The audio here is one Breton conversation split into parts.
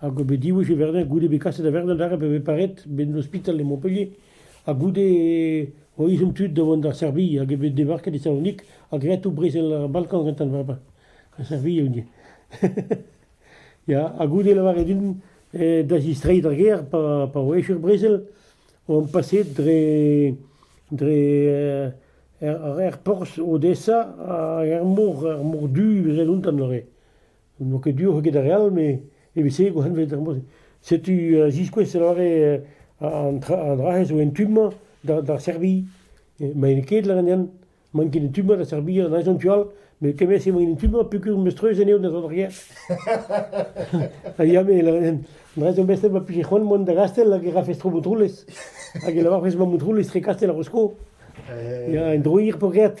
Hag bet diwech e Verdun, goude bet kaset da Verdun aze pa vez paret, ben ospital e Montpellier, ha goude o izom tud da vont da Serbie hag eo bet debarket e Salonik ha graet tout brezel ar Balkan gantañ bremañ. Ha Serbie eo ivez. Ya, ha goude lavaret din eh da zistreiñ d'ar gêr pa pa oa echu ar brezel, on paset dre dre er er porzh Odessa hag er mor er mor du evel un tamm neuze. n'oa ket du eget ar re all, met evit se e gourc'henved ar mod-se. Setu a ziskouez a lâre an tra, an dra-se zo en tu-mañ d'ar Serbie. Maen ket lârenn, maen ket en tu-mañ da Serbia an aezon tu all, met kement-se emañ en tu-mañ peogwir meus treuz anezho da zont arrière. Ha ya, me lârenn, an dra-se zo beset ma plije c'hoant mont da Gastel hag e rafes tro Montroulez. Hag e lavarfes ma Montroulez tre Kastel ar Rosko. Ya, en droir pogret.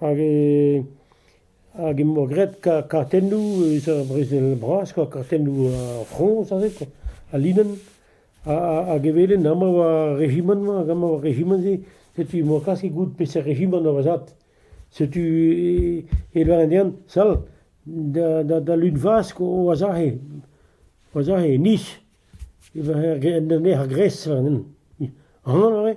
hag e hag emañ graet kartennoù eus ar brezel bras kwa kartennoù ar Frañs aze kwa al linenn hag evelhen amañ war rejimant-mañ hag amañ war rejimant-se setu emañ klask goût peseurt rejimant da vazhat setu e lâren dezhan sal da lunvazh oazahe oazahe e nij e ven ec'h a gres war an hent aon a rae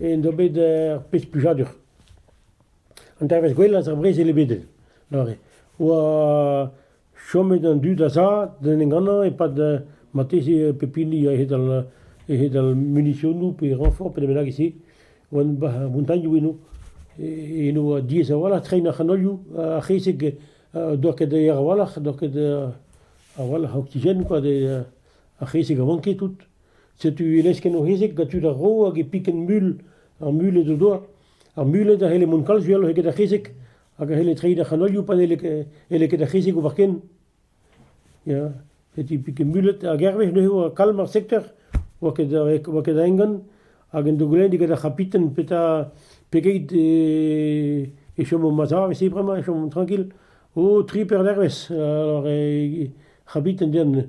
int oa bet ur pezh plijadur. An dervezh gwellañ eus ar brezel ebedel neuze oa chomet an dud a-sav d'en em gannañ e-pad marteze pep hini a-hed al a-hed al munisionoù pe renfort pe da bennak e-se. Oa ar montagnioù eno eno ha diaes a-walc'h treiñ ar c'hanolioù. Ar c'hezeg doa ket aer a-walc'h, doa ket a-walc'h a oksigen kwa, ar c'hezeg a vanke tout. Setu e lesken o c'hezeg gant tud ar ro hag e piken mul ar muled o doa. Ar muled a c'helle mont kalz uheloc'h eget ar c'hezeg hag a c'helle treiñ d'ar c'hanolioù pa n'helle ket- n'helle ket ar c'hezeg ober ken. Ya, setu piken muled ar Gervez neuze oa kalm ar sektor, oa ket a- oa ket a engan hag en dogolenn eget ar c'hapiten petra, pegeit e e chom o mazar evese bremañ, e chomont trankil. O, tri per dervezh, alors e c'habiten den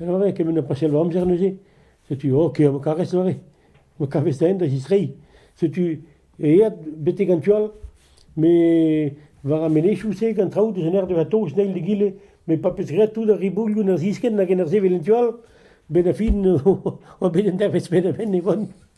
E ore kement a pasial va amzer neuze, setu ok, ma karez doare, ma kavez da en da zistreiñ, setu aet betek an tu all, met war ar menezioù-se gant traoù deus an ardeur a-taos eil d'egile, met pa 'peus graet tout ar riboulioù en ur ziskenn hag en ur sevel en tu all, 'benn ar fin on bet un dervezh penn-ha-penn e van.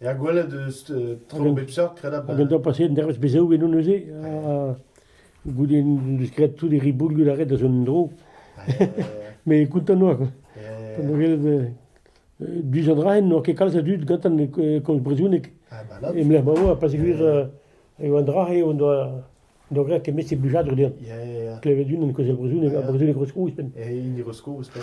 Er gwelet eus tro bep seurt kredabl. Hag an doa passet un dervezh bezaou eno neuze. Ha goude un diskred tout e riboulioù da ret da zont dro. Mais content noa quoi. Du zont raen, n'oa ket kalz a dud gantan kon brezounek. E mlec'h ma oa, pa segwir e oa dra e on doa doa great ket mesi blijadur dezhan. Klevet un en kozel brezounek, ha brezounek Roskro ouzhpenn. E hini Roskro ouzhpenn.